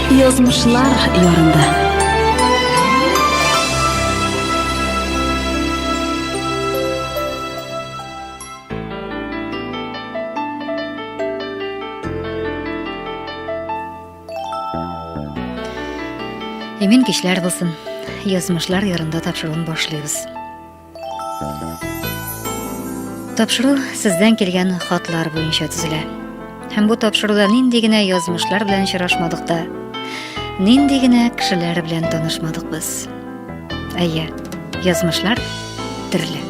Язмышлар ярында. Имин кичләр булсын. Язмышлар ярында тапшыруын башлыйбыз. Тапшыру сездән килгән хатлар буенча төзелә. Һәм бу тапшыруда нинди генә язмышлар белән очрашмадык та, нинди генә кешеләр белән танышмадык без. Әйе, язмышлар төрле.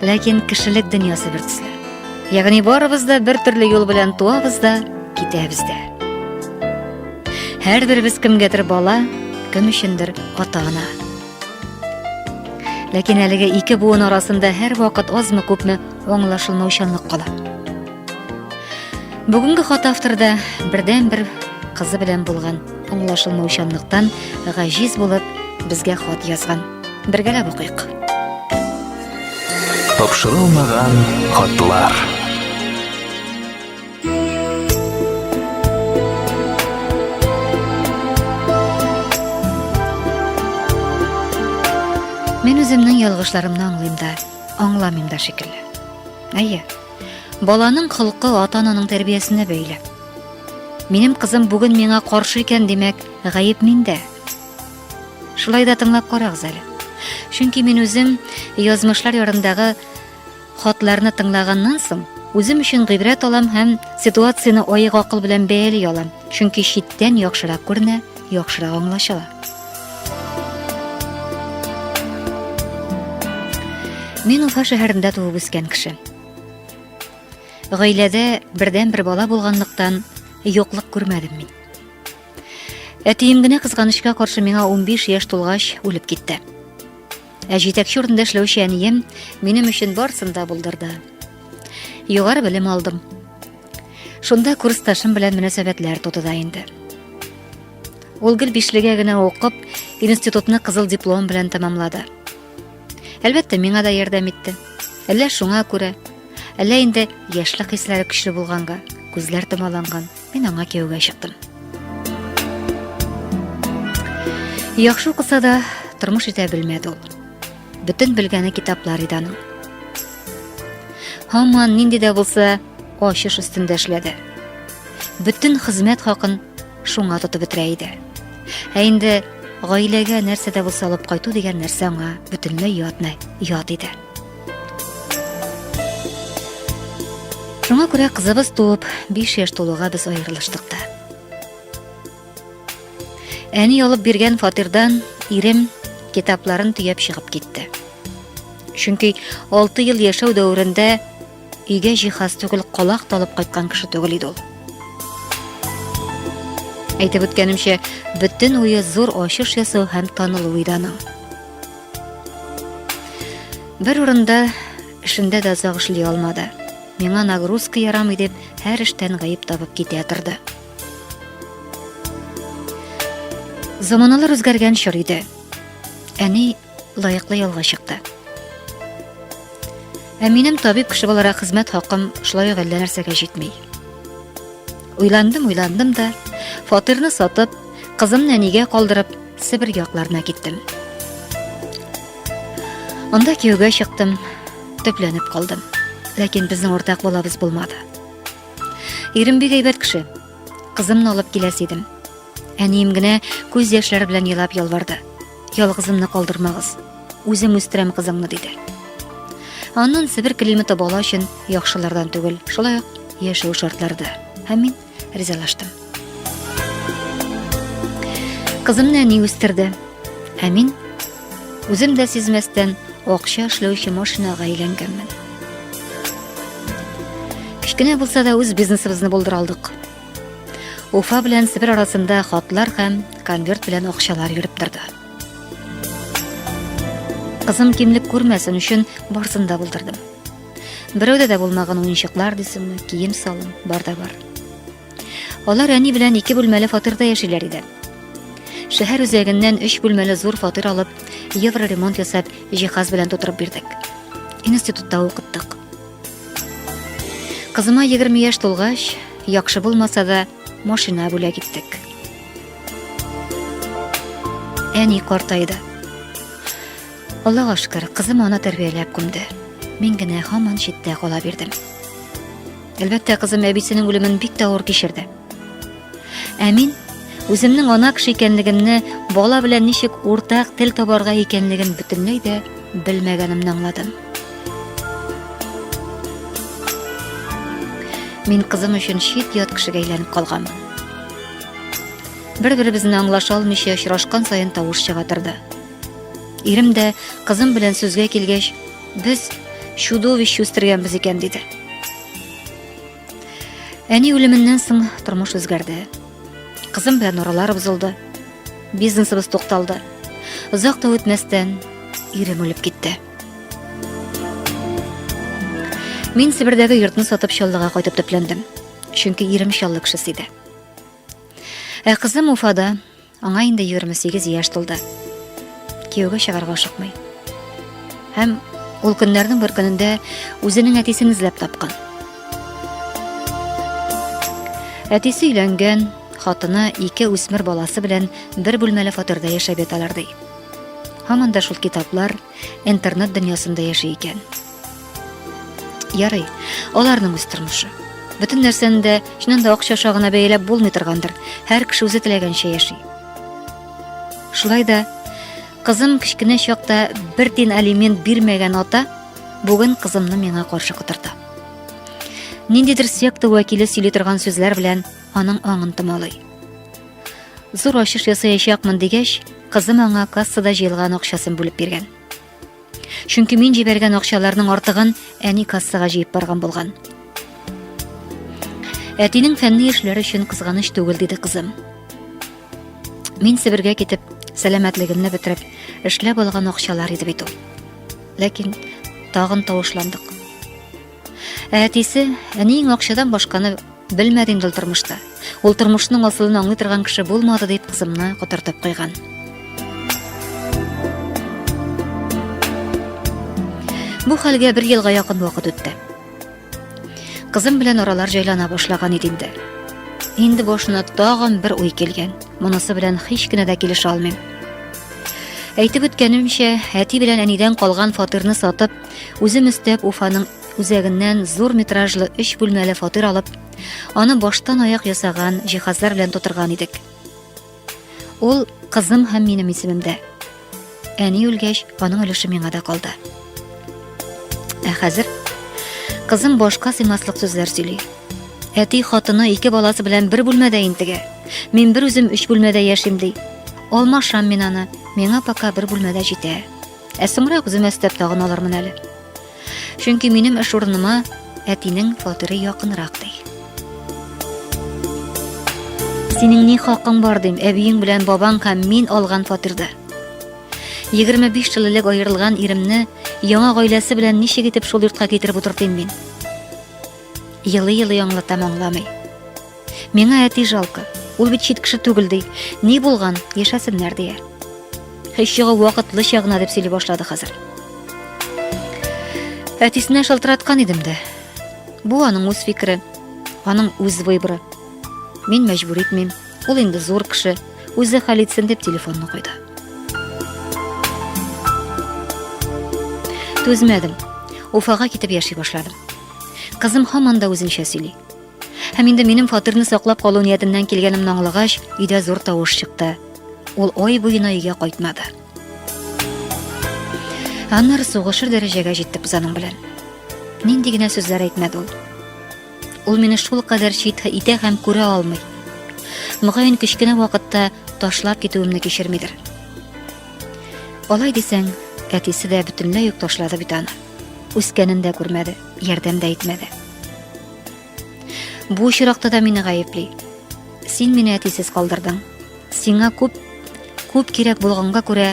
Ләкин кешелек дөньясы бер төсле. Ягъни барыбыз да бер төрле юл белән туабыз да, китәбез дә. Һәрберебез кемгәдер бала, кем өчендер ата-ана. Ләкин әлеге ике буын арасында һәрвакыт азмы-күпме аңлашылмаучанлык кала. Бүгенге хат авторда бердән-бер кызы белән булган аңлашылмаучанлыктан гаҗиз булып безгә хат язган. Бергәләп укыйк. Тапшырылмаган хатлар. Мин үземнең ялгышларымны аңлыйм да, аңламыйм да шикелле. Әйе. Баланың холкы ата-ананың тәрбиясенә бәйле. Минем кызым бүген миңа каршы икән, димәк, гаеп миндә. Шулай да тыңлап карагыз әле. Чөнки мин үзем язмышлар ярындагы Хатларны тыңлаганнан соң, үзем өчен гыйбрәт алам һәм ситуацияне аек акыл белән бәяли алам, чөнки читтән яхшырак күренә, яхшырак аңлашыла. Мин Уфа шәһәрендә туып үскән кеше. Гаиләдә бердән бер бала булганлыктан юклык күрмәдем мин. Әтием генә кызганычка каршы миңа 15 яшь тулгач үлеп китте. Ә җитәкче урында эшләүче әнием минем өчен барсын да булдырды. Югары белем алдым. Шунда курсташым белән мөнәсәбәтләр туды да инде. Ул гел бишлегә генә укып, институтны кызыл диплом белән тәмамлады. Әлбәттә, миңа да ярдәм итте. Әллә шуңа күрә, әллә инде яшьлек хисләре көчле булганга, күзләр томаланган. Мин аңа кияүгә чыктым. Яхшы укыса да, тормыш итә белмәде ул. Бөтен белгәне китаплар иде аның. Һаман нинди дә булса, ачыш өстендә эшләде. Бөтен хезмәт хакын шуңа тотып бетерә иде. Ә инде гаиләгә нәрсә дә булса алып кайту дигән нәрсә аңа бөтенләй ятмый, ят иде. Шуңа күрә кызыбыз туып, 5 яшь тулуга без аерылыштык та. Әни алып биргән фатирдан ирем китапларын төяп чыгып китте. Чөнки 6 ел яшәү дәверендә өйгә җиһаз түгел колак талып кайткан кеше түгел иде ул. Әйтеп үткәнемчә, бөтен уе зур ачыш ясау һәм танылу иде аның. Бер урында эшендә дә озак эшли алмады. Миңа нагрузка ярамый дип, һәр эштән гаеп табып китә торды. Заманалар үзгәргән чор иде. Әни лаеклы ялга чыкты. Ә минем табиб кеше буларак хезмәт хакым шулай ук әллә нәрсәгә җитми. Уйландым, уйландым да, фатирны сатып, кызымны әнигә калдырып, Себер якларына киттем. Анда кияүгә чыктым, төпләнеп калдым. Ләкин безнең уртак балабыз булмады. Ирем бик әйбәт кеше. Кызымны алып киләс идем. Әнием генә күз яшьләре белән елап ялварды. Ялгызымны калдырмагыз. Үзем үстерәм кызыңны диде. Аннан Себер климаты бала өчен яхшылардан түгел, шулай ук яшәү шартлары да. Һәм мин ризалаштым. Кызым нәни үстерде. Ә мин үзем дә сизмәстән акча эшләүче машинага әйләнгәнмен. Кечкенә булса да үз бизнесыбызны булдыра алдык. Уфа белән Себер арасында хатлар һәм конверт белән акчалар йөреп торды. Кызым кимлек күрмәсен өчен барсын да булдырдым. Берәүдә дә булмаган уенчыклар дисеңме, кием салым, бар да бар. Алар әни белән ике бүлмәле фатирда яшиләр иде. Шәһәр үзәгеннән өч бүлмәле зур фатир алып, евро ремонт ясап, җиһаз белән тутырып бирдек. Институтта укыттык. Кызыма 20 яшь тулгач, яхшы булмаса да, машина бүләк иттек. Әни картайды. Аллага шөкер, кызым аны тәрбияләп күмде. Мин генә һаман читтә кала бирдем. Әлбәттә, кызым әбисенең үлемен бик тә авыр кичерде. Ә мин үземнең ана кеше икәнлегемне, бала белән ничек уртак тел табарга икәнлеген бөтенләй дә белмәгәнемне аңладым. Мин кызым өчен чит ят кешегә әйләнеп калганмын. Бер-беребезне аңлаша алмыйча очрашкан саен тавыш чыга торды. Ирем дә кызым белән сүзгә килгәч, без чудовище үстергәнбез икән диде. Әни үлеменнән соң тормыш үзгәрде. Кызым белән аралар бозылды. Бизнесыбыз тукталды. Озак та үтмәстән ирем үлеп китте. Мин Себердәге йортны сатып Чаллыга кайтып төпләндем. Чөнки ирем Чаллы кешесе иде. Ә кызым Уфада Аңа инде 28 яшь тулды. Кияүгә чыгарга ашыкмый. Һәм ул көннәрнең бер көнендә үзенең әтисен эзләп тапкан. Әтисе өйләнгән, хатыны ике үсмер баласы белән бер бүлмәле фатирда яшәп яталар ди. Һаман да шул китаплар, интернет дөньясында яши икән. Ярый, аларның үз тормышы. Бөтен нәрсәне дә чыннан да акча аша гына бәяләп булмый торгандыр. Һәр кеше үзе теләгәнчә яши. Шулай да кызым кечкенә чакта бер тин алимент бирмәгән ата бүген кызымны миңа каршы котырта. Ниндидер секта вәкиле сөйли торган сүзләр белән аның аңын томалый. Зур ачыш ясаячакмын дигәч, кызым аңа кассада җыелган акчасын бүлеп биргән. Чөнки мин җибәргән акчаларның артыгын әни кассага җыеп барган булган. Әтинең фәнни эшләр өчен кызганыч түгел диде кызым. Мин Себергә китеп, сәламәтлегемне бетереп, эшләп алган акчалар иде бит ул. Ләкин тагын тавышландык. Ә әтисе, әниең акчадан башканы белмәде инде тормышта. Ул тормышның асылын аңлый торган кеше булмады дип кызымны котыртып куйган. Бу хәлгә бер елга якын вакыт үтте. Кызым белән аралар җайлана башлаган иде инде. Инде башына тагын бер уй килгән. Монысы белән һич кенә дә килешә алмыйм. Әйтеп үткәнемчә, әти белән әнидән калган фатирны сатып, Үзем өстәп Уфаның үзәгеннән зур метражлы өч бүлмәле фатир алып, аны баштан аяк ясаган җиһазлар белән тутырган идек. Ул кызым һәм минем исемемдә. Әни үлгәч, аның өлеше миңа да калды. Ә хәзер кызым башка сыймаслык сүзләр сөйли. Әти хатыны ике баласы белән бер бүлмәдә интегә. Мин бер үзем өч бүлмәдә яшим ди. Алмашам мин аны. Миңа пока бер бүлмәдә җитә. Ә соңрак үземә өстәп тагын алырмын әле. Чөнки минем эш урыныма әтинең фатиры якынрак ди. Синең ни хакың бар дим, әбиең белән бабаң һәм мин алган фатирда. 25 ел элек аерылган иремне яңа гаиләсе белән ничек итеп шул йортка китереп утыртыйм мин? Елый-елый аңлатам аңламый. Миңа әти жалко. Ул бит чит кеше түгел ди. Ни булган? Яшәсеннәр дия. Һич чыгу вакытлыча гына дип сөйли башлады хәзер. Әтисенә шалтыраткан идем дә. Бу аның үз фикере, аның үз выборы. Мин мәҗбүр итмим. Ул инде зур кеше, үзе хәл итсен дип телефонны куйды. Түзмәдем. Уфага китеп яши башладым. Кызым һаман да үзенчә сөйли. Һәм инде минем фатирны саклап калу ниятеннән килгәнемне аңлагач, өйдә зур тавыш чыкты. Ул ай буена өйгә кайтмады. Аннары сугышыр дәрәҗәгә җиттек без аның белән. Нинди генә сүзләр әйтмәде ул. Ул мине шул кадәр чит итә һәм күрә алмый. Мөгаен кечкенә вакытта ташлап китүемне кичермидер. Алай дисәң, әтисе дә бөтенләй үк ташлады бит аны. Үскәнен дә күрмәде, ярдәм дә итмәде. Бу очракта да мине гаепли. Син мине әтисез калдырдың. Сиңа күп күп кирәк булганга күрә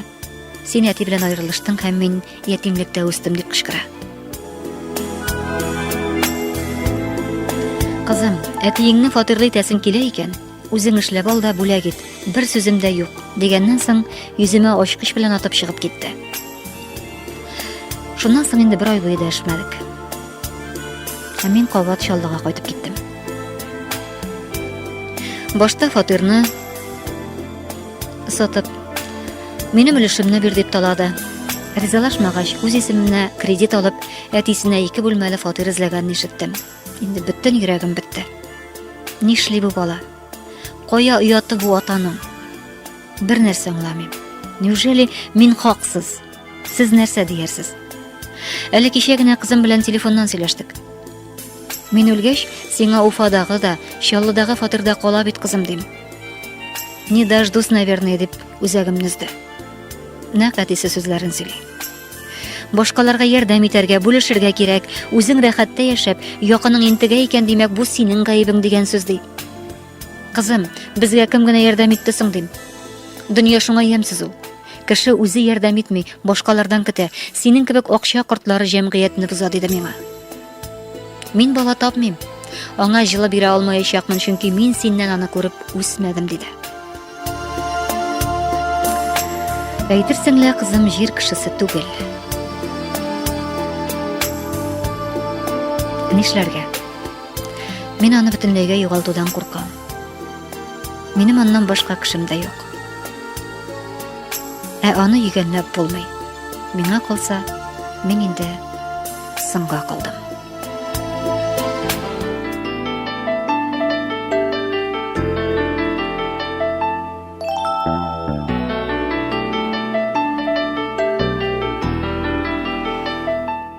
син әти белән аерылыштың һәм мин ятимлектә үстем дип кычкыра. Кызым, әтиеңне фатирлы итәсең килә икән, Үзең эшләп ал да бүләк ит, бер сүзем дә юк, дигәннән соң, йөземә ачкыч белән атып чыгып китте. Шуннан соң инде бер ай буе дәшмәдек. Ә мин кабат Чаллыга кайтып киттем. Башта фатирны сатып, минем өлешемне бир дип талады. Ризалашмагач, үз исеменә кредит алып, әтисенә ике бүлмәле фатир эзләгәнен ишеттем. Инде бөтен йөрәгем бетте. Нишли бу бала? Кая ояты бу атаның? Бер нәрсә аңламыйм. Неужели мин хаксыз? Сез нәрсә диярсез? Әле кичә генә кызым белән телефоннан сөйләштек. Мин үлгәч, сиңа Уфадагы да, Чаллыдагы фатирда кала бит кызым дим. Не дождусь, наверное, дип үзәгемне өзде. Нәкъ әтисе сүзләрен сөйли. Башкаларга ярдәм итәргә, бүлешергә кирәк. Үзең рәхәттә яшәп, якының интегә икән, димәк, бу синең гаебең дигән сүз ди. Кызым, безгә кем генә ярдәм итте соң дим. Дөнья шуңа ямьсез ул. Кеше үзе ярдәм итми, башкалардан көтә. Синең кебек акча кортлары җәмгыятьне боза, диде миңа. Мин бала тапмыйм. Аңа җылы бирә алмаячакмын, чөнки мин синнән аны күреп үсмәдем, диде. Әйтерсең лә кызым җир кешесе түгел. Нишләргә? Мин аны бөтенләйгә югалтудан куркам. Минем аннан башка кешем дә юк. Ә аны йөгәнләп булмый. Миңа калса, мин инде Соңга калдым.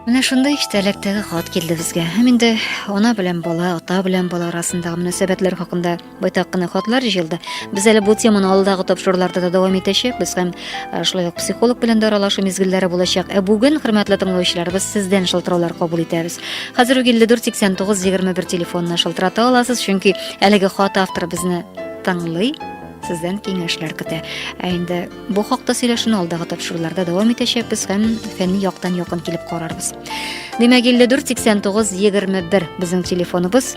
Менә шунда иштәлектәге хат килде безгә. Һәм инде ана белән бала, ата белән бала арасындагы мөнәсәбәтләр хакында Байтак кына хатлар җыелды. Без әле бу теманы алдагы тапшыруларда да дәвам итәчәкбез һәм э, шулай ук психолог белән дә аралашу мизгелләре булачак. Ә бүген, хөрмәтле тыңлаучыларыбыз, сездән шалтыраулар кабул итәбез. Хәзер үк 54 89 21 телефонына шалтырата аласыз, чөнки әлеге хат авторы безне тыңлый, сездән киңәшләр көтә. Ә инде бу хакта сөйләшүне алдагы тапшыруларда дәвам итәчәкбез һәм фәнни яктан якын килеп карарбыз. Димәк, 54 89 21 безнең телефоныбыз.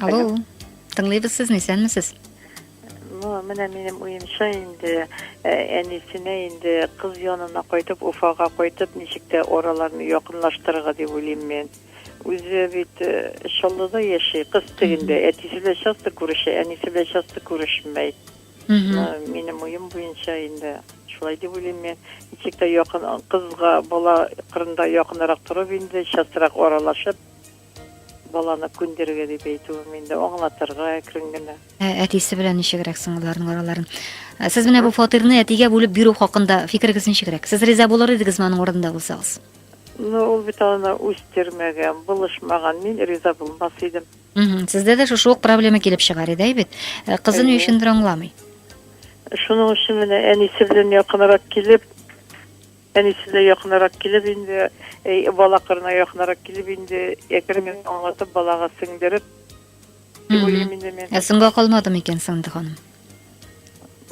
Алло, тыңлыйбыз сезне, исәнмесез? Ну, менә минем уемча инде э, әнисенә инде кыз янына кайтып, Уфага кайтып, ничек тә араларны якынлаштырырга дип уйлыйм мин. Үзе бит э, Чаллыда яши, кыз тегендә, әтисе белән часто күрешә, әнисе белән часто күрешмәй. Ну, минем уем буенча инде шулай дип уйлыйм мин. Ничек тә якын кызга бала кырында якынрак торып инде, частрак аралашып, Баланы күндерергә дип әйтүем инде, аңлатырга әкрен генә. Ә әтисе белән ничегрәк соң аларның араларын? Ә Сез менә бу фатирны әтигә бүлеп бирү хакында фикерегез ничегрәк? Сез риза булыр идегезме аның урынында булсагыз? Ну, ул бит аны үстермәгән, булышмаган. Мин риза булмас идем. Мгм. Сездә дә шушы ук проблема килеп чыгар иде, әйбит. Ә Кызы ни Әйе. өчендер аңламый. Шуның өчен менә әнисе белән якынрак килеп, Әнисенә якынрак килеп инде, бала кырына якынрак килеп инде, әкрен генә аңлатып, балага сеңдереп, дип уйлыйм инде мин. Ә соңга калмады микән Сандык ханым?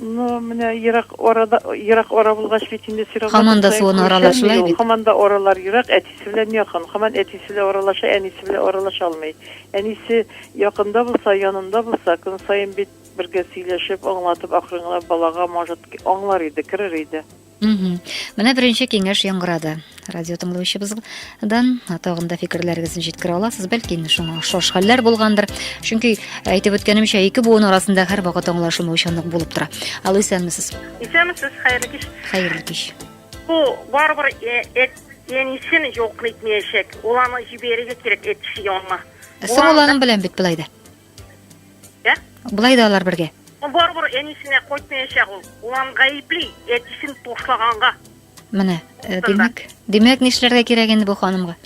Ну, менә ерак арада, ерак ара булгач бит инде сирак. Хаман да суын аралашмый бит. Хаман да аралар ерак, әтисе белән якын. Хаман әтисе белән аралаша, әнисе белән аралаша алмый. Әнисе якында булса, янында булса, көн саен бит бергә сөйләшеп, аңлатып, акрын гына балага, может, аңлар иде, керер иде. Менә беренче киңәш яңгырады. Радио тыңлаучыбыздан тагын да фикерләрегезне җиткерә аласыз. Бәлки инде шуңа ошаш хәлләр булгандыр. Чөнки әйтеп үткәнемчә, ике буын арасында һәр вакыт аңлашылмаучанлык булып тора. Ал исәнмесез. Исәнмесез, хәерле кич. Хәерле кич. Бу барыбер эт янисен юк итмәячәк. Ул аны җибәрергә кирәк эт янына. Соң ул аның белән бит былай да. Ә? Болай да алар бергә. Барыбер әнисенә кайтмаячак ул. Улан гаепли, әтисен ташлаганга. Менә, э, димәк, димәк нишләргә кирәк инде бу ханымга?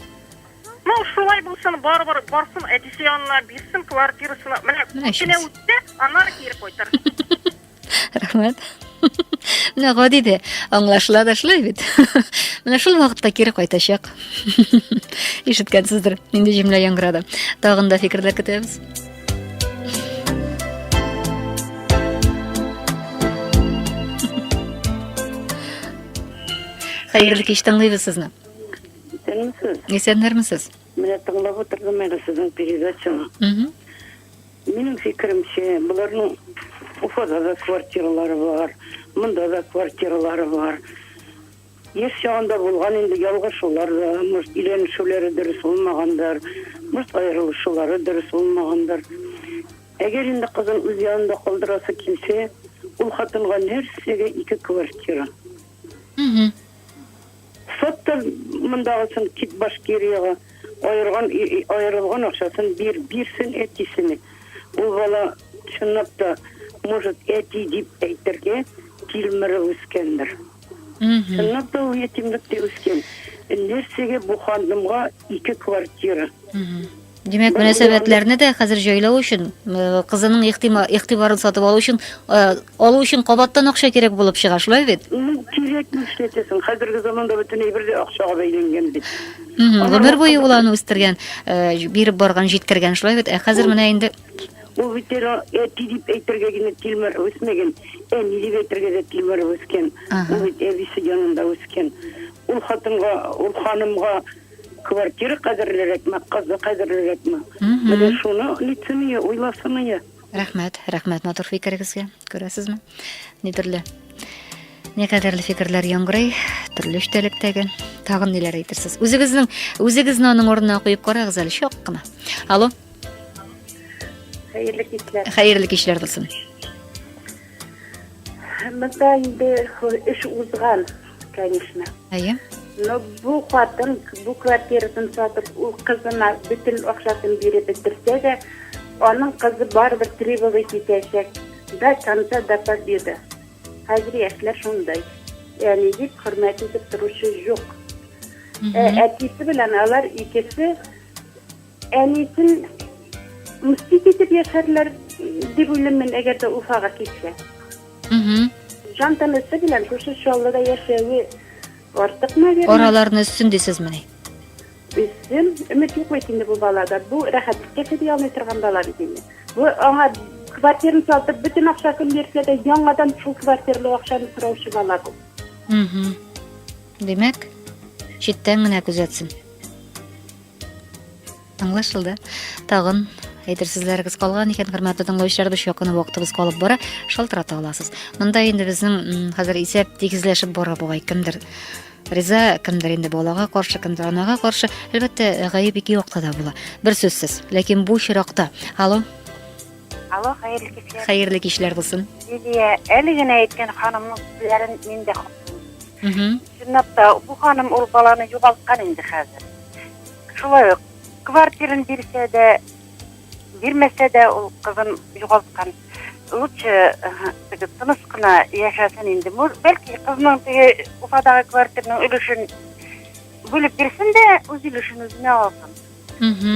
Ну, шулай булсын, барыбер барсын, әтисе янына бирсен квартирасына. Менә, Менә кенә үтте, аннары кире кайтыр. Рәхмәт. Менә гади дә аңлашыла да шулай бит. Менә шул вакытта кире кайтачак. Ишеткәнсездер, нинди җөмлә яңгырады. Тагын да фикерләр көтәбез. Хәерле кич тыңлыйбыз сезне. Исәнмесез. Исәннәрмесез. Менә тыңлап утырдым әле сезнең передачаны. Минем фикеремчә, боларның Уфада да квартиралары бар, монда да квартиралары бар. Яшь чагында булган инде ялгышулар да, может, өйләнешүләре дөрес булмагандыр, может, аерылышулары дөрес булмагандыр. Әгәр инде кызын үз янында калдырасы килсә, ул хатынга нәрсәгә ике квартира? Сатты мондагысын кит Башкириягә, аерган аерылган акчасын бир, бирсен әтисенә. Ул бала чынлап та может әти дип әйтергә килмры үскәндер. Чынлап та ул ятимлектә үскән. Нәрсәгә бу ханымга ике квартира? Димәк, мөнәсәбәтләрне дә хәзер җайлау өчен, э, кызының игътибарын сатып алу өчен, э, алу өчен кабаттан акча кирәк булып чыга, шулай бит? Ну, кирәк ни эшләтәсең? Хәзерге заманда бөтен әйбер дә акчага бәйләнгән бит. Гомер буе ул аны үстергән, э, биреп барган, җиткергән, шулай бит? Ә хәзер менә инде Ул бит әле әти дип әйтергә генә тилмер үсмәгән, әни дип әйтергә дә тилмер үскән. Ул бит әбисе янында үскән. Ул хатынга, ул ханымга Квартира кадерлерәкме, кызы кадерлерәкме? Менә шуны лицемия уйласымые. Рәхмәт, рәхмәт матур фикерегезгә. Күрәсезме? Ни төрле не кадерле фикерләр яңгырый, төрле эчтәлектәге. Тагын ниләр әйтерсез? Үзегезнең үзегезне аның урынына куеп карагыз әле чак кына. Алло. Хәерле кичләр. Хәерле кичләр булсын. Монда инде эш узган, конечно. Әйе. Но бу хатын бу квартирасын сатып, ул кызына бөтен акчасын биреп бетерсә дә, аның кызы барыбер требовать итәчәк. До конца до победы. Хәзер яшьләр шундай. Әни дип хөрмәт итеп торучы юк. Ә әтисе белән алар икесе Әнисен мстить итеп яшәрләр дип уйлыйм мин, әгәр дә Уфага китсә. Җан тәмәсе белән күрше Чаллыда яшәве артык, наверное. Араларны өссен дисезмени? Өссен, өмет юк бит инде бу балада. Бу рәхәтлеккә чыдый алмый торган бала бит инде. Бу аңа квартираны сатып, бөтен акчасын бирсә дә, яңадан шул квартиралы акчаны сораучы бала бу. Димәк, читтән генә күзәтсен. Аңлашылды. Тагын әйтер сүзләрегез калган икән, хөрмәтле тыңлаучыларыбыз, якын вакытыбыз калып бара, шалтырата аласыз. Монда инде безнең хәзер исәп тигезләшеп бара бугай, кемдер риза, кемдер инде балага каршы, кемдер анага каршы. Әлбәттә, гаеп ике якта да була. Бер сүзсез. Ләкин бу чиракта. Алло. Алло, хәерле кичләр. Хәерле кичләр булсын. Лилия, әле генә әйткән ханымның сүзләрен мин дә Чынлап та, бу ханым ул баланы югалткан инде хәзер. Шулай ук, квартирын бирсә дә, бирмәсә дә ул кызын югалткан. Лучше теге тыныс кына яшәсен инде. Бәлки кызның теге Уфадагы квартирның өлешен бүлеп бирсен дә, үз өлешен үзенә алсын.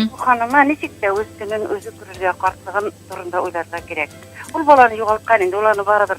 Бу ханыма ничек тә үз көнен үзе күрергә, картлыгын турында уйларга кирәк. Ул баланы югалткан инде, ул аны барыбер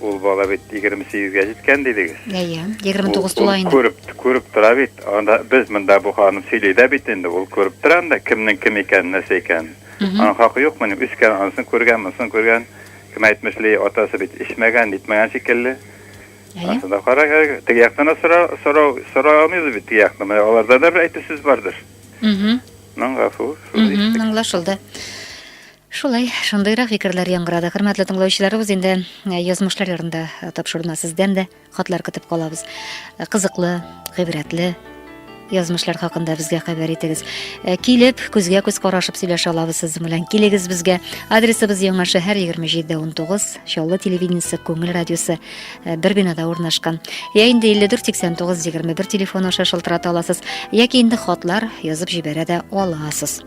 Ул бала бит егерме сигезгә җиткән дидегез. Әйе, егерме тугыз тула инде. Ул күреп, күреп тора бит. Анда без монда бу ханым сөйли дә бит инде. Ул күреп тора анда кемнең кем икәнен, нәрсә икәнен. Аның хакы юкмыни? Үскән, анысын күргән, монысын күргән. Кем әйтмешли, атасы бит эчмәгән, нитмәгән шикелле. Әйе. Анда кара, теге яктан да сорау, сорау, сорау алмыйбыз бит теге яктан. Менә аларда да бер әйтү сүз бардыр. Мм, гафу. Мм, аңлашылды. Шулай, шундыйрак фикерләр яңгырады. Хөрмәтле тыңлаучыларыбыз, инде язмышлар ярында тапшыруына сездән дә хатлар көтеп калабыз. Кызыклы, гыйбрәтле, язмышлар хакында безгә хәбәр итегез. Э, килеп, күзгә күз карашып сөйләшә алабыз сез белән. Килегез безгә. Адресыбыз Яңа шәһәр 27-19, Чаллы телевидениесе Күңел радиосы э, бер бинада урнашкан. Я инде 548921 телефон аша шылтырата аласыз, яки инде хатлар язып җибәрә дә аласыз.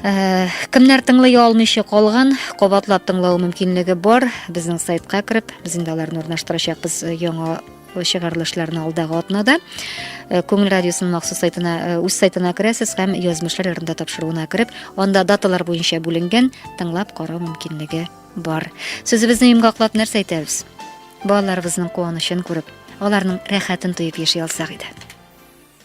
Э, кемнәр тыңлый алмыйча калган кабатлап тыңлау мөмкинлеге бар безнең сайтка кереп без инде аларны урнаштырачакбыз э, яңа чыгарылышларны алдагы атнада э, күңел радиосының махсус сайтына үз сайтына керәсез һәм язмышлар ярында тапшыруына кереп анда даталар буенча бүленгән тыңлап карау мөмкинлеге бар сүзебезне йомгаклап нәрсә әйтәбез балаларыбызның куанычын күреп аларның рәхәтен тоеп яши алсак иде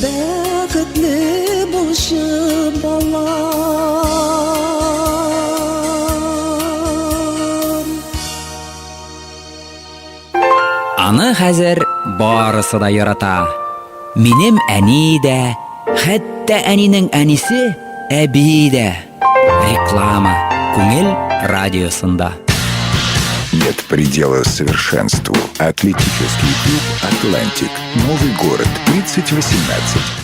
Бәхетле булчы бала Аны хәзер барысы да ярата. Минем әни дә, хәтта әнинең әнисе, әби дә. Реклама. Күңел радиосында. Нет предела совершенству. Атлетический клуб «Атлантик». Новый город, 3018.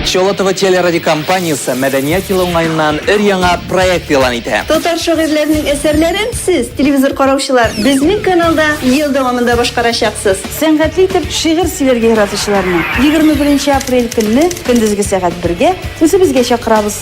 Чолотова телерадиокомпаниясе мәдәният елы уңаеннан өр яңа проект елан итә. Татар шагыйрьләренең әсәрләрен сез, телевизор караучылар, безнең каналда ел дәвамында башкарачаксыз. Сәнгатьле итеп шигырь сөйләргә яратучыларны 21 апрель көнне көндезге сәгать 1 гә үзебезгә чакырабыз.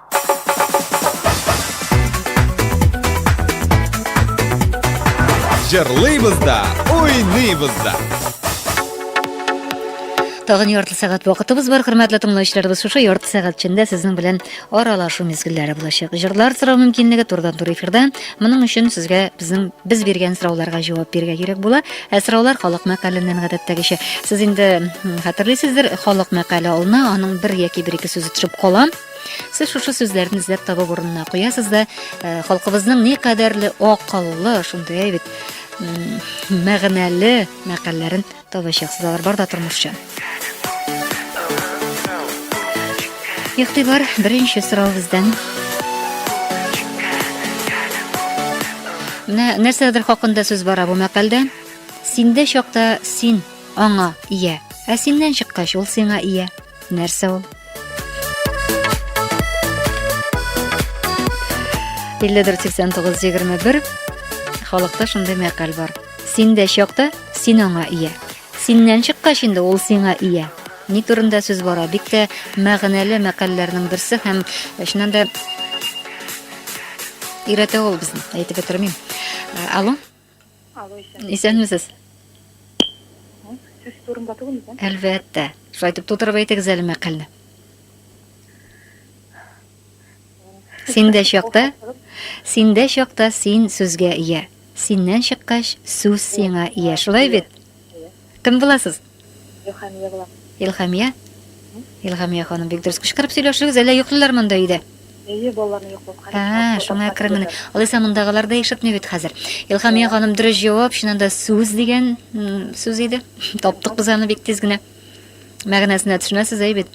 Җырлыйбыз да, уйныйбыз да. Тагын ярты сәгать вакытыбыз бар, хөрмәтле тыңлаучыларыбыз. Шушы ярты сәгать эчендә сезнең белән аралашу мизгелләре булачак. Җырлар сорау мөмкинлеге турдан тур эфирда. Моның өчен сезгә безнең без биргән сорауларга җавап бирергә кирәк була. Ә сораулар халык мәкаленнән гадәттәгечә. Сез инде хәтерлисездер, халык мәкале алына, аның бер яки бер ике сүзе төшеп кала. Сез шушы сүзләрне эзләп табып урынына куясыз да, э, халкыбызның ни кадәрле акыллы, шундый бит мәгънәле мәкальләрен табачаксыз алар бар да тормышчан. Ихтибар беренче сорау бездән. Менә нәрсәдер хакында сүз бара бу мәкалдә. Синдә чакта син аңа ия, ә синнән чыккач ул сиңа ия. Нәрсә ул? Илледер 89-21 халыкта шундый мәкаль бар. Син дә чакта, син аңа ия. Синнән чыккач инде ул сиңа ия. Ни турында сүз бара? Бик тә мәгънәле мәкалләрнең берсе һәм чыннан да өйрәтә ул безне. Әйтеп бетермим. Алло. Алло, исән. Исәнмесез. Сез турында түгел микән? Әлбәттә. Шулай итеп тутырып әйтегез әле мәкальне. Синдә чакта, синдә чакта син сүзгә ия. Синнән чыккач, сүз сиңа ия. Шулай бит? Кем буласыз? Илхамия булам. Илхамия? Илхамия ханым, бик дөрес кычкырып сөйләшегез, әллә йоклыйлар монда өйдә? Әйе, балаларны йоклаткан. Ә, шуңа әкрен генә. Алайса мондагылар да ишетми бит хәзер. Илхамия ханым дөрес җавап, чыннан да сүз дигән сүз иде. Таптык без аны бик тиз генә. Мәгънәсенә төшенәсез, әй бит.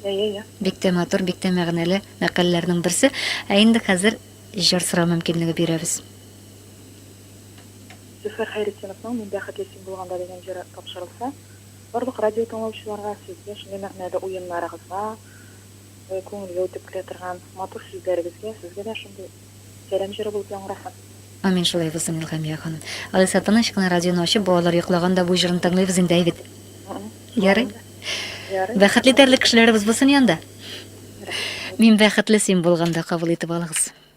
Әйе, әйе. Бик тә матур, бик тә мәгънәле мәкаләләрнең берсе. Ә инде хәзер җыр сорау мөмкинлеге бирәбез. Зөфәр Хәйретдиновның Мин бәхетле син булганда дигән җыры тапшырылса, барлык радиотыңлаучыларга, сезгә, шундый мәгънәле уеннарыгызга, күңелгә үтеп керә торган матур сүзләрегезгә, сезгә дә шундый сәлам җыры булып яңгырасын. Амин, шулай булсын, Илһамия ханым. Алайса, тыныч кына радионы ачып, балалар йоклаганда бу җырны тыңлыйбыз инде, әйбит. Ярый? Ярый. Бәхетле итәрлек кешеләребез булсын янда. Мин бәхетле син булганда кабул итеп алыгыз.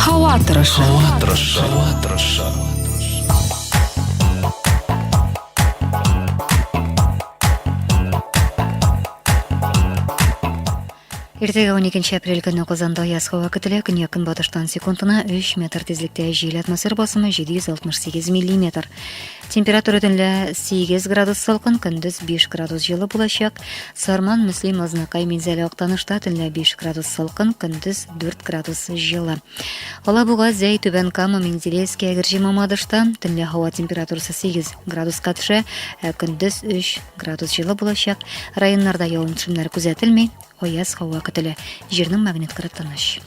Һава торышы. Һава торышы. Һава торышы. Иртәгә 12 апрель көне Казанда яз һава көтелә. Көньяк-көнбатыштан секундына 3 метр тизлектә җил атмосфер басымы 768 мм. Температура төнлә 8 градус салкын, көндез 5 градус җылы булачак. Сарман, Мөслим, Азнакай, Минзәлә, Актанышта төнлә 5 градус салкын, көндез 4 градус җылы. Алабуга, Зәй, Түбән Кама, Менделеевский, Әгерҗе, Мамадышта төнлә һава температурасы 8 градуска төшә, ә көндез 3 градус җылы булачак. Районнарда явым-төшемнәр күзәтелми. аяз һава көтелә. Җирнең магнит кыры тыныч.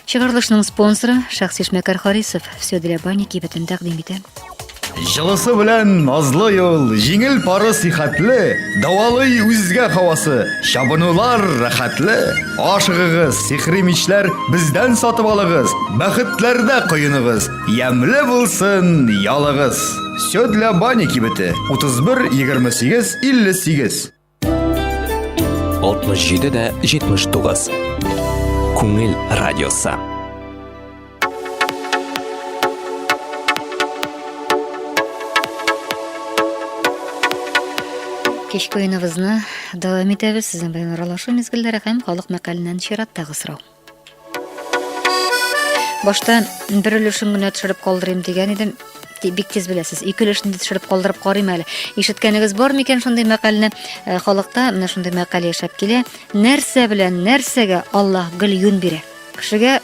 Чыгарылышның спонсоры шәхси эшмәкәр Харисов все для бани кибетен тәкъдим итә. Җылысы белән назлы юл, җиңел пары сихәтле, дәвалый үзгә хавасы, чабынулар рәхәтле. Ашыгыгыз, сихри мичләр бездән сатып алыгыз, бәхетләрдә коеныгыз, ямьле булсын ялыгыз. Сёдля Бани кибете 31 28 58 67 дә 79. Күңел радиосы. Кичке уеныбызны дәвам итәбез. Сезнең белән аралашу мизгелләре һәм халык мәкаленнән чираттагы сорау. Башта бер өлешен генә төшереп калдырыйм дигән идем. Бик тиз беләсез, ике өлешне төшереп калдырып карыйм әле. Ишеткәнегез бар микән шундый мәкальне? Э, халыкта менә шундый мәкаль яшәп килә. Нәрсә белән нәрсәгә Аллаһ гел юн бирә? Кешегә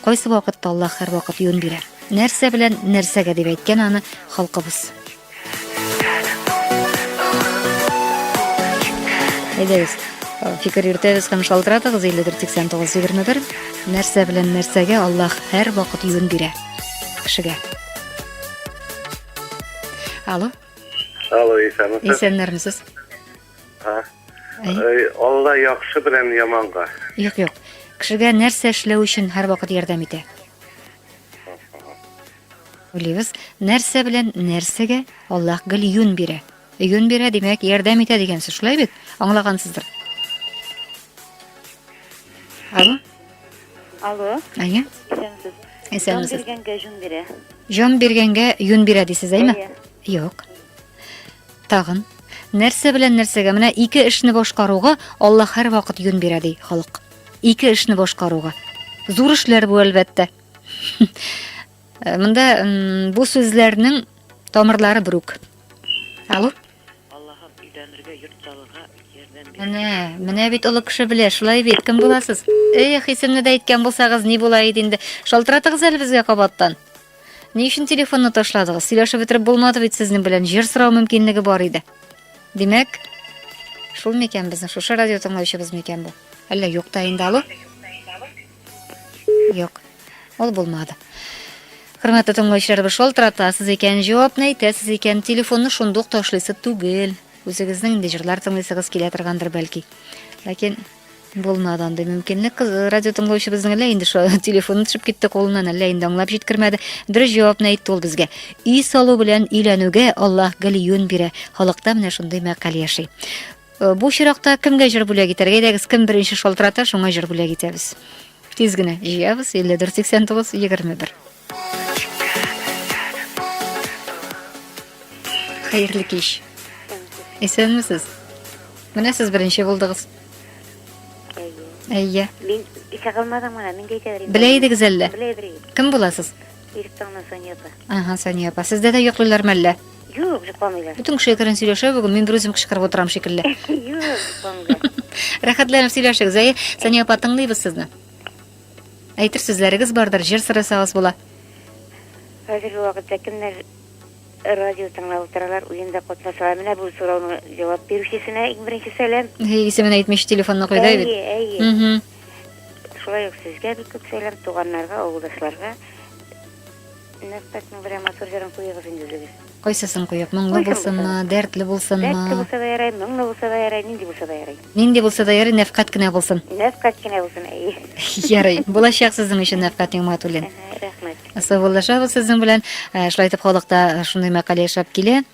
кайсы вакытта Аллаһ һәрвакыт юн бирә? Нәрсә белән нәрсәгә дип әйткән аны халкыбыз. Әйдәгез, фикер йөртәбез һәм шалтыратыгыз 548921. Нәрсә белән нәрсәгә Аллаһ һәр вакыт юн бирә? Кешегә. Алло. Алло, исәнмесез. Исәннәрмесез. А. Алла яхшы белән яманга. Юк, юк. Кешегә нәрсә эшләү өчен һәр вакыт ярдәм итә? Уйлыйбыз, нәрсә белән нәрсәгә Аллаһ гел юн бирә. Юн бирә, димәк, ярдәм итә дигән сүз, шулай бит? Аңлагансыздыр. Алло. Алло. Әйе. Исәнмесез. Исәнмесез. Җан биргәнгә җун бирә. Җан биргәнгә юн бирә дисез, әйме? Юк. Тагын. Нәрсә белән нәрсәгә? Менә ике эшне башкаруга Аллаһ һәрвакыт юн бирә ди халык. Ике эшне башкаруга. Зур эшләр бу, әлбәттә. Э, монда бу сүзләрнең тамырлары бүрук. Алло? Аллаһым өйләнергә, йорт салырга ярдәм бир. Менә, менә бит олы кеше белә, шулай бит. Кем буласыз? Эх, исемне дә әйткән булсагыз, ни була иде инде. Шалтыратыгыз әле безгә кабаттан. Ни өчен телефонны ташладыгыз? Сөйләшеп бетереп булмады бит сезнең белән. Җир сорау мөмкинлеге бар иде. Димәк, шул микән безнең шушы радио тыңлаучыбыз микән бу? Әллә юк та инде алу? Юк, ул булмады. Хөрмәтле тыңлаучыларыбыз, шалтыратасыз икән, җавапны әйтәсез икән, телефонны шундук ташлыйсы түгел. Үзегезнең инде җырлар тыңлыйсыгыз килә торгандыр бәлки. Ләкин булмады андый мөмкинлек. Радио тыңлаучыбызның әллә инде шул телефоны төшеп китте кулыннан, әллә инде аңлап җиткермәде. Дөрес җавапны әйтте ул безгә. Өй салу белән өйләнүгә Аллаһ гел юн бирә. Халыкта менә шундый мәкаль яши. Э, бу чиракта кемгә җыр бүләк итәргә? Әйдәгез, кем беренче шалтырата, шуңа җыр бүләк итәбез. Тиз генә җыябыз 5489 21. Хәерле кич. Исәнмесез? Менә сез беренче булдыгыз. Әйе. Мин исә калмадым гына, мин дә әйтәбер. Белә идегез әллә? Белә идегез. Кем буласыз? Иректаңнан Сания апа. Ага, Сания апа. Сездә дә йоклыйлар мәллә? Юк, йокламыйлар. Бөтен кеше әкрен сөйләшә бүген, мин бер үзем кычкырып утырам шикелле. Юк, йокламыйлар. Рәхәтләнеп сөйләшегез. Әйе, Сания апа, тыңлыйбыз сезне. Әйтер сүзләрегез бардыр, җыр сорасагыз була. Хәзерге вакытта кемнәр радио тыңлап утыралар, уенда катнашалар. Менә бу сорауның җавап бирүчесенә иң беренче сәлам. Исемен әйтмичә телефонны куйды бит. Әйе, әйе. Шулай ук сезгә бик күп сәлам, туганнарга, авылдашларга. Нәфтатның берәр матур җырын куегыз инде үзегез. Кайсысын куеп, моңлы булсынмы, дәртле булсынмы? Дәртле булса да ярай, моңлы булса да ярай, нинди булса да ярый. Нинди булса да ярый, нәфкать кенә булсын. Нәфкать кенә булсын, әйе. Ярый, булачак сезнең өчен Нәфкать Нигъмәтуллин. Рәхмәт. Саубуллашабыз сезнең белән. Э, шулай итеп, халыкта шундый мәкаль яшәп килә.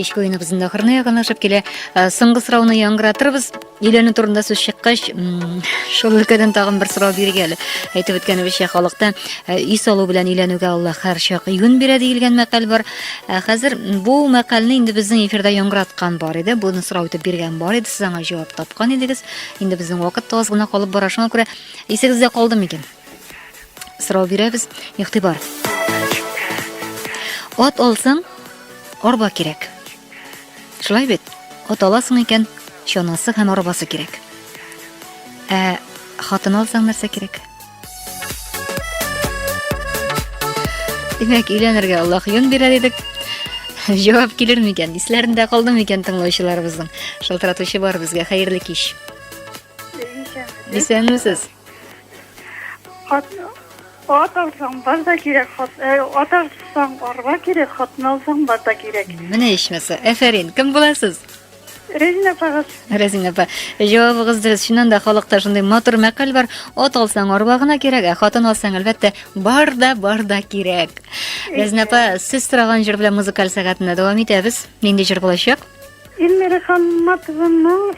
кичке уеныбыздың ахырына якынлашып килә э, соңгы сорауны яңгыратырбыз өйләнү турында сүз чыккач шул өлкәдән тагын бер сорау биргә әле әйтеп үткәнебезчә халыкта э, өй салу белән өйләнүгә алла һәрчак юнь бирә диелгән мәкаль бар Ә хәзер бу мәкалне инде безнең эфирда яңгыраткан бар иде. Буны сорау итеп биргән бар иде. Сез аңа җавап тапкан идегез. Инде безнең вакыт таз гына калып бара. Шуңа күрә исегездә калды микән? Сорау бирәбез. Игътибар. Ат алсаң, арба кирәк. Шулай бит? Ат аласың икән, чанасы һәм арбасы кирәк. Ә хатын алсаң нәрсә кирәк? Димәк, өйләнергә Аллаһ юн бирә дидек. Җавап килер микән? Исләрендә калды микән тыңлаучыларыбызның? Шалтыратучы бар безгә. Хәерле кич. Исәнмесез. Хат Ат алсаң, бар да кирәк, хат, э, ат алсаң, арба кирәк, хатын алсаң, бар да кирәк. Менә ичмаса. Әфәрин. Кем буласыз? Резина апагыз. Резина апа, җавабыгыз дөрес. Чыннан да халыкта шундый матур мәкаль бар. Ат алсаң арба гына кирәк, ә хатын алсаң әлбәттә бар да бар да кирәк. Резина апа, сез сораган җыр белән музыкаль сәгатенә дәвам итәбез. Нинди җыр булачак? Эльмира Хамматованың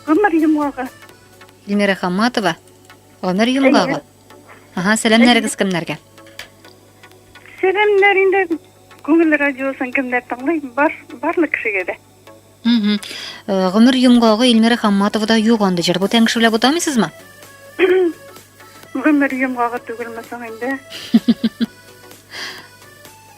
Гомер йомгагы. Эльмира Хамматова. Гомер йомгагы. Әйе. Ага, сәламнәрегез кемнәргә? Сәламнәр инде күңел радиосын кемнәр тыңлый? Бар, барлык кешегә дә. Угу. Гомер йомгагы Илмира Хамматова да юк анда җыр. Бу тәңгеше белән бутамыйсызмы? Гомер йомгагы түгелме соң инде?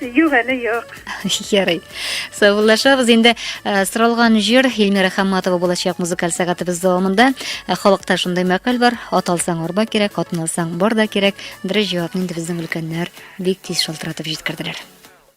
Юк әле юк. Ярый. Саубуллашабыз. Инде э, соралган җыр Эльмира Хамматова булачак музыкаль сәгатебез дәвамында. Э, халыкта шундый мәкаль бар, ат алсаң арба кирәк, атны алсаң бар да кирәк. Дөрес җавапны инде безнең өлкәннәр бик тиз шалтыратып җиткерделәр.